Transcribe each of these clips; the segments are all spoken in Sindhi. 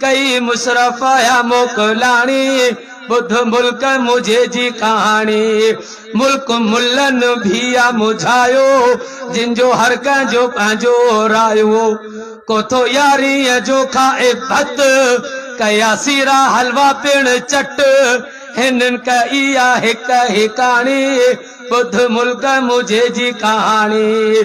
ڪئي مشرف آيا موڪلاڻي، ٻڌ ملڪ منهنجي جي ڪهاڻي. ملڪ ملن ڀيا مجهايو، جن جو هر ڪنهن جو پنهنجو رايو. ڪوتو ياريء جو کائي ڀت، ڪيا سيرا حلوا پڻ چٽ. هنن ڪئي آ هڪ هيڪاڻي، ٻڌ ملڪ منهنجي جي ڪهاڻي.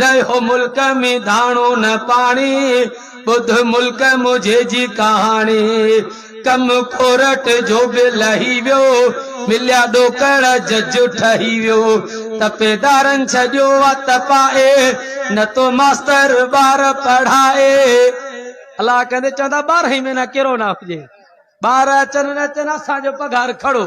رهيو ملڪ ۾ داڻو نه پاڻي، ٻڌ ملڪ منهنجي جي ڪهاڻي. ڪم ڪورٽ جو به لهي ويو، مليا ڏوڪڙ جج ٺهي ويو. تپيدارن ڇڏيو آ تپائي، نه تو ماستر ٻار پڙهائي. الا ڪندي چوندا ٻارهن ئي مهينا ڪيرو نه هجي، ٻار اچن نه اچن اسان جو پگهار کڙو.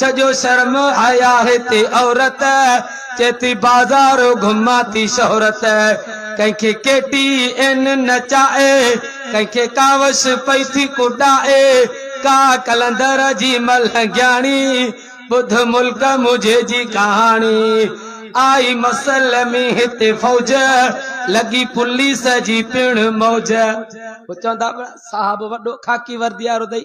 سڄو شرم حيا هتي عورت چئي ٿي بازار گهمان ٿي شهرت ڪنهن کي ڪي ٽي اين نچائي ڪنهن کي ڪاوش پئي ٿي ڪڏائي ڪا قلندر جي ملهنگياڻي ٻڌ ملڪ منهنجي جي ڪهاڻي آئي مسلمي هتي فوج لڳي پوليس جي پڻ موج هو چوندا صاحب وڏو خاڪي وردي وارو دئي